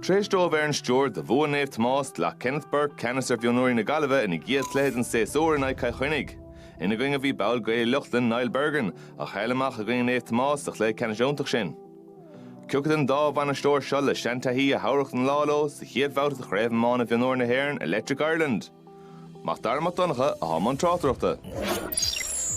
Tar éis dó bheith ar an stiúir do bhua Naomh Tomás, ghlac Kenneth Burke ceannas ar mhionúirí na Gaillimhe ina gcéad chluiche den séasúr in aghaidh Chill Chainnigh. Ina gcoinne bhí ball Ghaeil Uí Lochlainn Niall Bergin, a chaill amach i gcoinne Naomh Tomás sa chluiche ceannais iontach sin. Cé acu den dá bhainisteoir seo le seantaithí a thabharfadh an lá leo sa chéad bhabhta de Chraobh Iomána Mhionúir na hÉireann Electric Ireland. Mac Dara Mac Donncha atá i mbun tráchtaireachta.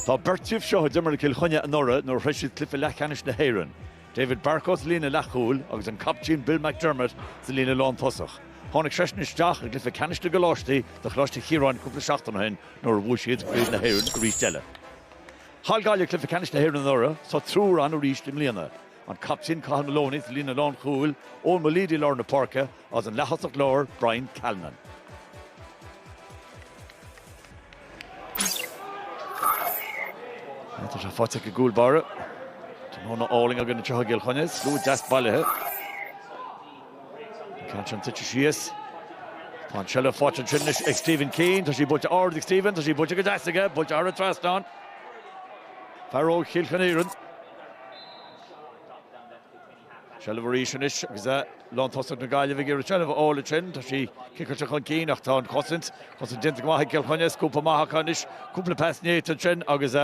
Tá beirt díobh seo a d'imir le Cill Chainnigh anuraidh nuair a shroich siad cluiche leathcheannais na hÉireann, David Barcoe sa líne leathchúil agus an captaen Bill McDermott sa líne lántosach. Tháinig seisean isteach i gcluiche ceannais na gcoláistí do Choláiste Chiaráin cúpla seachtain ó shin nuair a bhuaigh siad Craobh na hÉireann arís eile. Chaill Gaillimh cluiche ceannais na hÉireann anuraidh, tá triúr ann arís i mbliana. an Captaen Cathal Maloney sa líne lánchúil, Eoghan Mulleady lár na páirce agus an leaththosach láir Brian Callanan. Tá sé faighte ag an gcúl báire. Tráthnóna álainn i gContae Chill Chainnigh, slua deas bailithe. An ceann sin tite síos. Tá an seilbh faighte ansin anois ag Stephen Keane. Tá sí buaite ard ag Stephen, tá sí buaite go deas aige, buaite thar an trasnán. Fear óg Chill Chon Iarainn. seilbh arís anois agus lántosach na Gaillimhe ag iarraidh seilbh a fháil ansin. Tá sí ciceáilte chun cinn ach tá an chosaint, cosaint déanta go maith ag Cill Chainnigh, scuabtha amach acu anois, cúpla pas néata ansin agus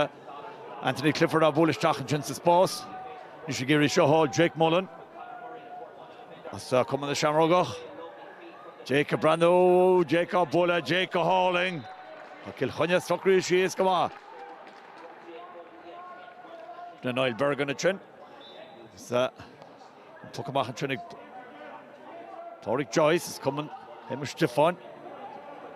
Anthony Clifford á bhualadh isteach ansin sa spás. Anois ag iarraidh seo thall Jake Mullen as Cumann na Seamrógach. Jake ag breathnú, Jake á bualadh, Jake go hálainn. Tá Cill Chainnigh socraithe síos go maith. le Niall Bergin ansin agus an poc amach ansin ag Pádraig Joyce as Cumann Shéamus Stiofáin.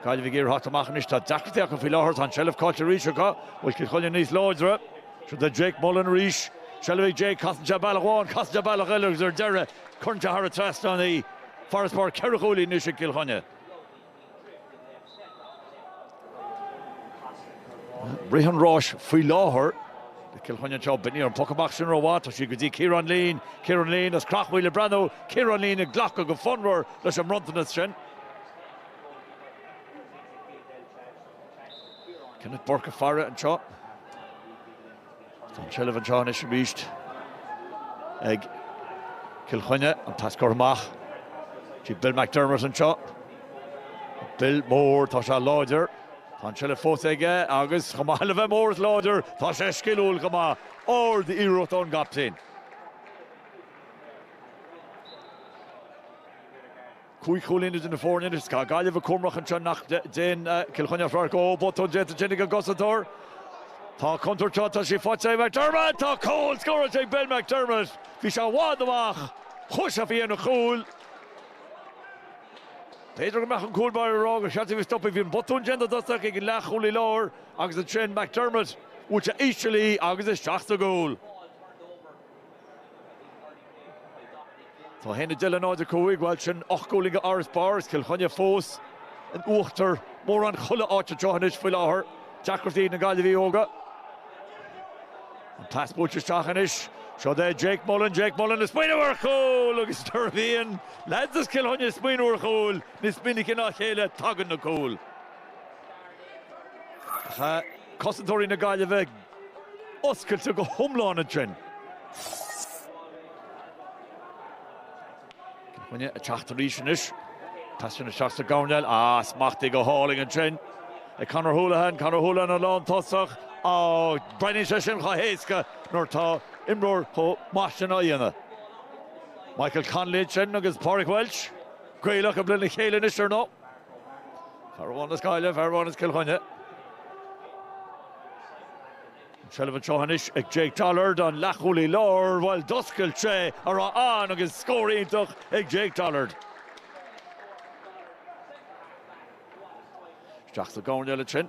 Gaillimh ag iarraidh a thabhairt amach anois, tá deacrachtaí acu faoi láthair, tá an seilbh caillte arís acu, bhfuil Cill Chainnigh níos láidre. Seo do Jake Mullen arís, seilbh ag Jake, casann sé bealach amháin, casann sé bealach eile agus ar deireadh cuireann sé thar an trasnán í. Farasbarr ceithre chúilín anois ag Cill Chainnigh. Rith an ráis faoi láthair le Cill Chainnigh anseo. Ní raibh an poc amach sin rómhaith. Tá sí go dtí Ciarán Leen. Ciarán Leen as Creachmhaoil ag breathnú. Ciarán Leen ag glacadh go fonnmhar leis an mbronntanas sin. Kenneth Burke ag faire anseo. Tá an tseilbh anseo anois arís ag Cill Chainnigh. An pas curtha amach sé Bill McDermott anseo. Bill mór, tá sé láidir. Tá an tseilbh fós aige agus chomh maith le bheith mór is láidir, tá sé sciliúil chomh maith. Ard-iarracht ón gcaptaen. Cúig chúilín idir na foirne anois. Tá Gaillimh cúramach anseo nach dtéann Cill Chainnigh as radharc, ó botún déanta ag an gcosantóir. Tá contúirt anseo, tá sí faighte ag McDermott! Tá cúl scóráilte ag Ben McDermott! Bhí sé i bhfad amach, chuaigh sé faoi dhéin an chúil. B'fhéidir go mbeadh an cúl báire ag rá gur cheart dó í a stopadh. Bhí an botún déanta i dtosach ag an leathchúlaí láir agus ansin McDermott, bhuail sé íseal í agus isteach sa gcúl. Tá a haon a dó dhéag, náid a cúig, bhuel sin ocht gcúilín d'fharasbarr is Cill Chainnigh fós in uachtar mórán chuile áit anseo anois faoi láthair. Deacrachtaí ag na Gaillimhigh óga. An pas buailte isteach anois. Seo é Jake Mullen, Jake Mullen ag smaoineamh ar chúl agus nuair a bhíonn leaids as Cill Chainnigh ag smaoineamh ar chúil, níos minice ná a chéile, tagann na cúil. Tá cosantóirí na Gaillimhe oscailte go hiomlán ansin. Cill Chainnigh ag teacht arís anois. Tá sé sin isteach sa gcoirnéal smachtaithe go hálainn ansin ag Conor Houlihan. Conor Houlihan an lántosach, breathnaíonn sé sin chomh héasca nuair tá imreoir chomh maith sin á dhéanamh. Michael Connolly sin agus Pádraig Welch. Gaolta lena chéile anois ar ndóigh. Fear amháin as Gaillimh, fear amháin as Cill Chainnigh. Seilbh anseo anois ag Jake Dollard, an leathchúlaí láir. Bhuel, d'oscail sé a raibh ann agus scór iontach ag Jake Dollard. Isteach sa gcoirnéal ansin.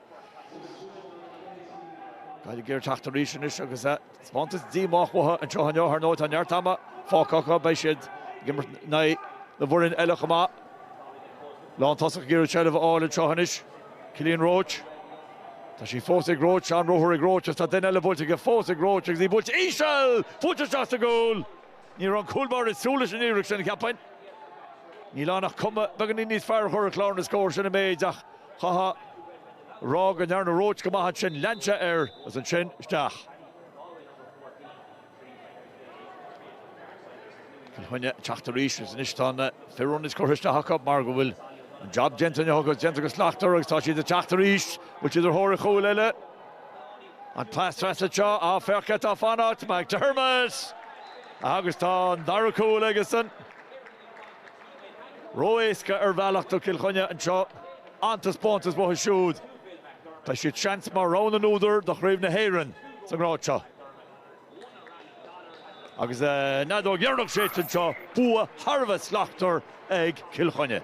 Gaillimh ag iarraidh teacht arís anois agus taispeántas díomách uathu anseo inniu. Ar ndóigh, tá neart ama fágtha acu, beidh siad ag imirt in aghaidh na bhfoireann eile chomh maith. Lántosach ag iarraidh seilbh a fháil anseo anois, Cillian Roche. Tá sí fós ag Roche, an-ruathar ag Roche agus tá duine eile buailte aige fós ag Roche agus í buailte íseal! Fúithi isteach sa gcúl! Ní raibh an cúl báire ag súil leis an iarracht sin, cheapfainn. Níl ann ach cuma beagainín níos fearr a chur ar chlár na scór, sin an méid, ach chaithfeá a rá go ndearna Roche go maith ansin. Lean sé air agus ansin isteach. Cill Chainnigh ag teacht arís agus anois tá na fir ionaid curtha isteach acu mar go bhfuil an jab déanta, an jab déanta go slachtmhar agus tá siad ag teacht arís. An bhfuil siad ar thóir chúil eile. An pas trasna anseo, an fear atá ag fanacht McDermott agus tá an dara cúl aigesan. Ró-éasca ar bhealach do Chill Chainnigh anseo an taispeántas uathu siúd. Tá siad seans mar rogha na n-údar do Chraobh na hÉireann sa ngrád seo. Agus an fheadóg dheireanach séidte anseo, bua thar a bheith slachtmhar ag Cill Chainnigh.